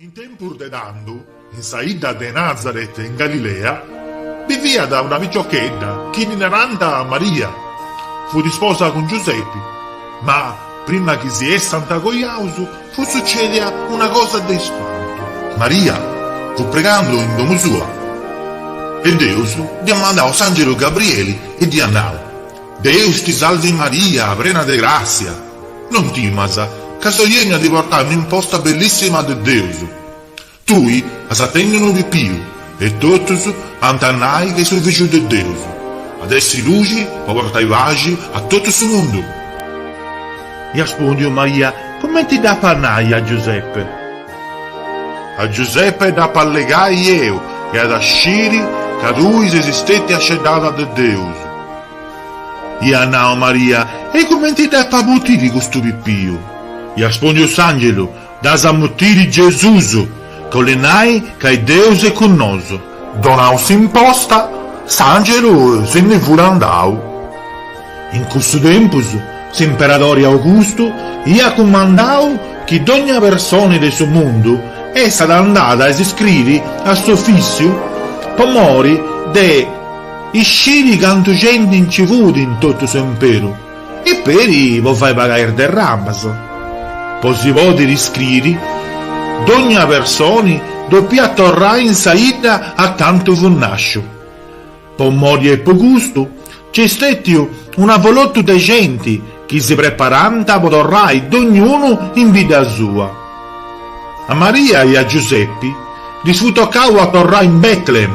In tempus de tando, in sa 'idda de Nazaret in Galilea, biviat una piciochedda chi ddi narànt Maria. Fut isposa cun Giusepi. Ma, prima chi si essant cojaus, fut sucèdia una cosa de ispantu. Maria fut pregando in domu sua e Deus dd'iat mandau s'àngelu Gabrieli e dd'iat nau, Deus ti salvi Maria, prena de gràssia! Non timas, ca soi 'ènniu a ti portai un'imposta bellissima de Deus. Tui as a tenni unu pipiu, e totus ant a nai chi est su Fìgiu de Deus. At a essi luxi po portai paxi a totu su mundu. Iat aspòndiu Maria, Cumenti dd'apu a nai a Giuseppe? A Giuseppe dd'apu a allegai eu, e at a sciri ca tui ses stètia sceddada de Deus. Iat nau Maria, E cumenti dd'apu a mutiri custu pipiu? Iat aspùndiu s'angelu, Dd'as a mutiri Gesusu, ca 'olit nai ca Deus est cun nosu. Donau s'imposta, s'angelu si ndi fut andau. In cussu tempus s'imperadori Augustu iat cumandau chi dogna personi de su mundu essat andada a si iscriri a s'ofissiu po mori de. Isciri cantu genti nci fut in totu s'imperu e peri po fai pagai is derramas. Po si pòdiri iscriri, dogna personi dopiat torrai in sa 'idda acantu fut nasciu. Po mori e po custu, nc'est stetiu un'avolotu de genti chi si preparànt po torrai dognunu in bidda sua. A Maria e a Giusepi ddis fut tocau a torrai in Bètlehem.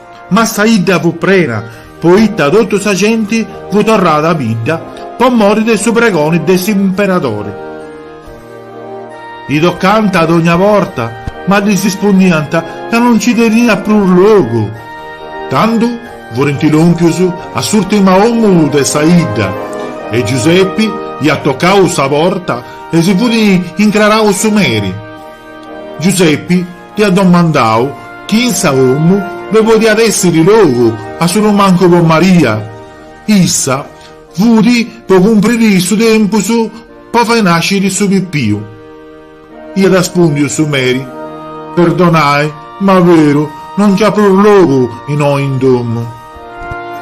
Ma sa 'idda fut prena, poita totu sa genti fut torrada a bidda po mori de su pregoni de s'imperadori. Ddi tocànt dogna porta, ma ddis ispundiant ca no nci teniat prus logu. Tando furint lòmpius a s'ùrtima 'omu de sa 'idda e Giusepi iat tocau sa porta e si fut incrarau su meri. Giusepi. Iat domandau chi in sa 'omu ddoi podiat èssiri logu assolumancu po Maria. Issa fut po cumpriri su tempus po fai nàsciri su pipiu. Iat aspùndiu su meri, Perdonai, ma beru, no nc'at prus logu innoi in domu.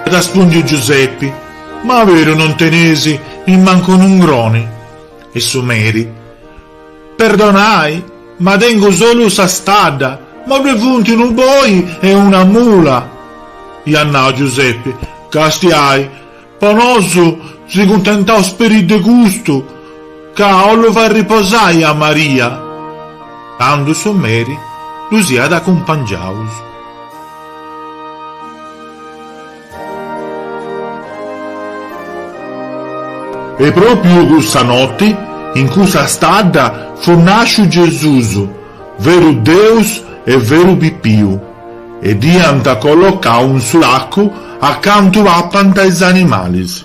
Iat aspùndiu Giusepi, Ma beru non tenis nimmancu un'ungroni? E su meri. Perdonai, ma tengu solu sa stadda, ddue funt unu boi e una mula. Iat nau Giuseppe, Castiai, po nosu, si cuntentaus peri de custu, ca 'ollu fai riposai a Maria. Tandu su meri ddus iat acumpangiaus. E pròpiu cussa noti, in cussa stadda, fut nàsciu Gesùs, veru Deus e veru pipiu, e dd'iant collocau in su lacu acantu papant is animalis.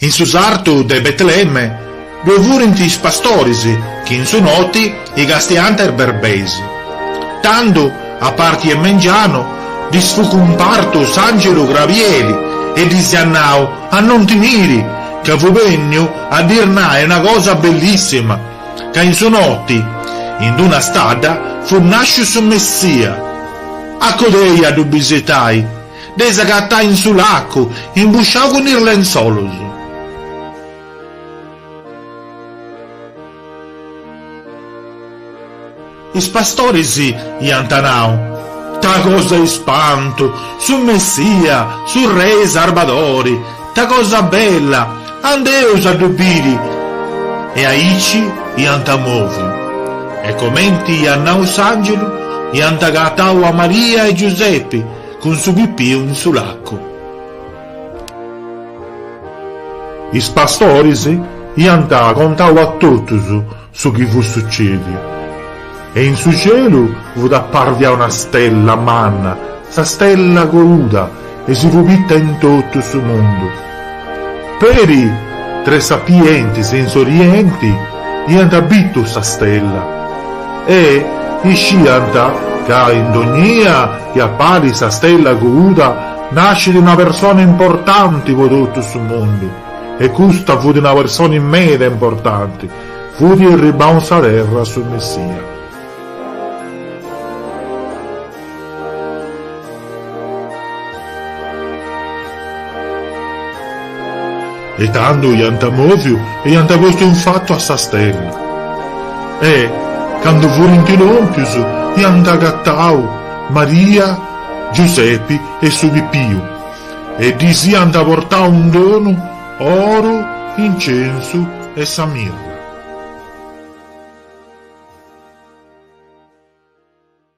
In su sartu de Betlemme ddoe furint is pastoris chi in su noti castiant is berbeis. Tando, a parti 'e mengianu, ddis fut cumpartu s'àngelu Grabieli e ddis iat nau a non timiri, ca fut bènniu a ddis nai una cosa bellissima, ca in su noti, in d-una stadda, fut nàsciu su Messia. Acudei a ddu bisitai. Dd'eis agatai in su lacu, imbusciau cun is lenzolus. Is pastoris iant nau, Ta cosa 'e ispantu! Su Messia, su Rei Sarbadori! Ta cosa bella! Andeus a ddu biri! E aici iant moviu. E comenti iat nau s'angelu, iant agatau a Maria e Giusepi, Cun su pipiu in su lacu. Is pastoris iant contau a totus su chi fut sucediu, e in su cielu fut apparvia una stella manna, sa stella coruda, e si fut bitta in totu su mundu. Peri tres sapientis in s'orienti iant bitu sa stella e isciant ca in dognia chi apparit sa stella coruda nascit una persona importanti po totu su mundu e custa fut una persona meda importanti, fut irribau in sa terra su Messia. E tando iant mòviu e iant postu in fatu a sa stella. E, cando furint lòmpius, iant agatau Maria, Giusepi e su pipiu e ddis iant portau in donu oru, incensu e sa mirra.